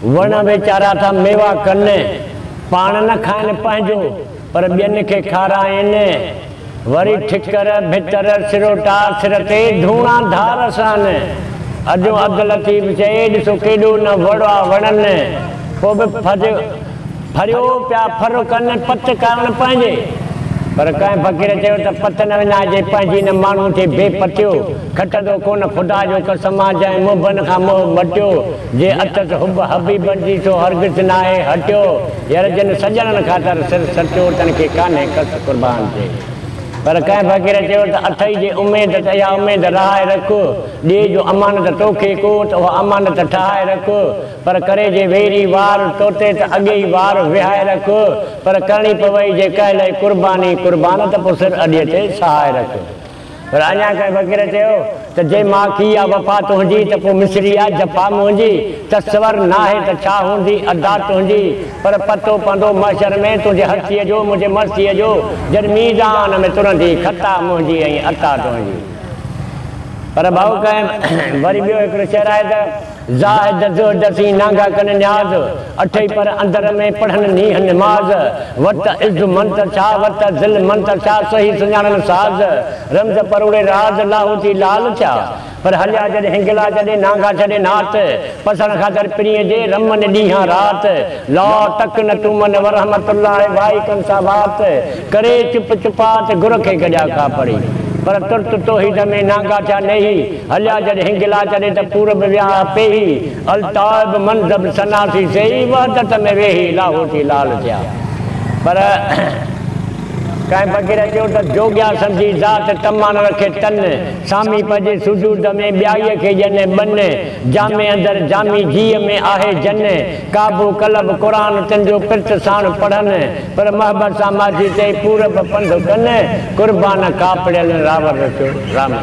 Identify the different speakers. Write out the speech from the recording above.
Speaker 1: وڻ ويچارا ٿا ميوا ڪن، پاڻ نه کائن پنهنجو، پر ٻين کي کارائين. وري ٺڪر، ڀتر، سروٽا، سر تي ڌوڻا ڌار سان. اجهو عبداللطيف چئي، ڏسو ڪيڏو نه وڙ آ وڻن، پوء به ڦج. ڦريو پيا ڦر ڪن پت ڪرڻ پنهنجي. پر ڪنهن فقير چيو ته پت نه وڃائجي پنهنجي نه ماڻهو ٿي بي پتيو کٽندو ڪونه خدا جو قسم آ جنهن محبن کان موهه مٽيو جي اٿس حب حبيبن جي سو هرگز ناهي هٽيو ير جن سڄڻن خاطر سر سٽيو تن کي ڪانهي ڪس قربان ٿي پر ڪنهن فقير چيو ته اٿئي جي اميد ته اها اميد رهائي رک ڏي جو امانت توکي ڪو ته اها امانت ٺهائي رک پر ڪري جي ويري وار ٽوٽي ته اڳي ئي وار وهائي رک پر ڪرڻي پوي جي ڪنهن لئي قرباني قربان ته پو سر اڏيء تي سهائي رک پر اڃا ڪنهن فقير چيو ته جي ماکي آ وفا تنهنجي ته پو مصري آ جفا منهنجي تصور ناهي ته ڇا هوندي ادا تنهنجي پر پتو پوندو محشر ۾ تنهنجي هستيء جو منهنجي مرثيء جو جڏ ميزان ۾ ترندي خطا منهنجي ۽ عطا تنهنجي پر ڀائو ڪنهن وري ٻيو هڪڙو شعر آهي ته. زاهد ادس ادسين نانگا ڪن نياز، اٺئي پر اندر ۾ پڙهن نينهن نماز، وت عز منت ڇا وت ذل منت ڇا، سهي سڃاڻن ساز، رمز پروڙي راز، لاهوتي لال ٿيا، پر هليا جڏ هنگلا جڏي نانگا ڇڏي نات، پسڻ خاطر پرينء جي رمن ڏينهان رات، لا ٽڪ نه ٽومن ورحمت الله وائي ڪن سا وات، ڪري چپ چپات گرکي گڏيا کاپڙي، پر ترت توحيد ۾ نانگا ٿيا نيهي، هليا جڏ هنگلا ڪري ته پورب وياهه پيهي الطائب منضب سناسي سيئي وحدت ۾ ويهي لاهوتي لال ٿيا پر ڪنهن فقير چيو ته جوڳيا سمجهي ذات طمعن رکي تن سامي پئجي سجود ۾ ٻيائيء کي ڄن ٻن جامي اندر جامي جيء ۾ آهي جن ڪعبو قلب قرآن تن جو پرت ساڻ پڙهن پر محبت سان ماضي تي پورب پنڌ ڪن قربان ڪاپڙيل راور رچو رامي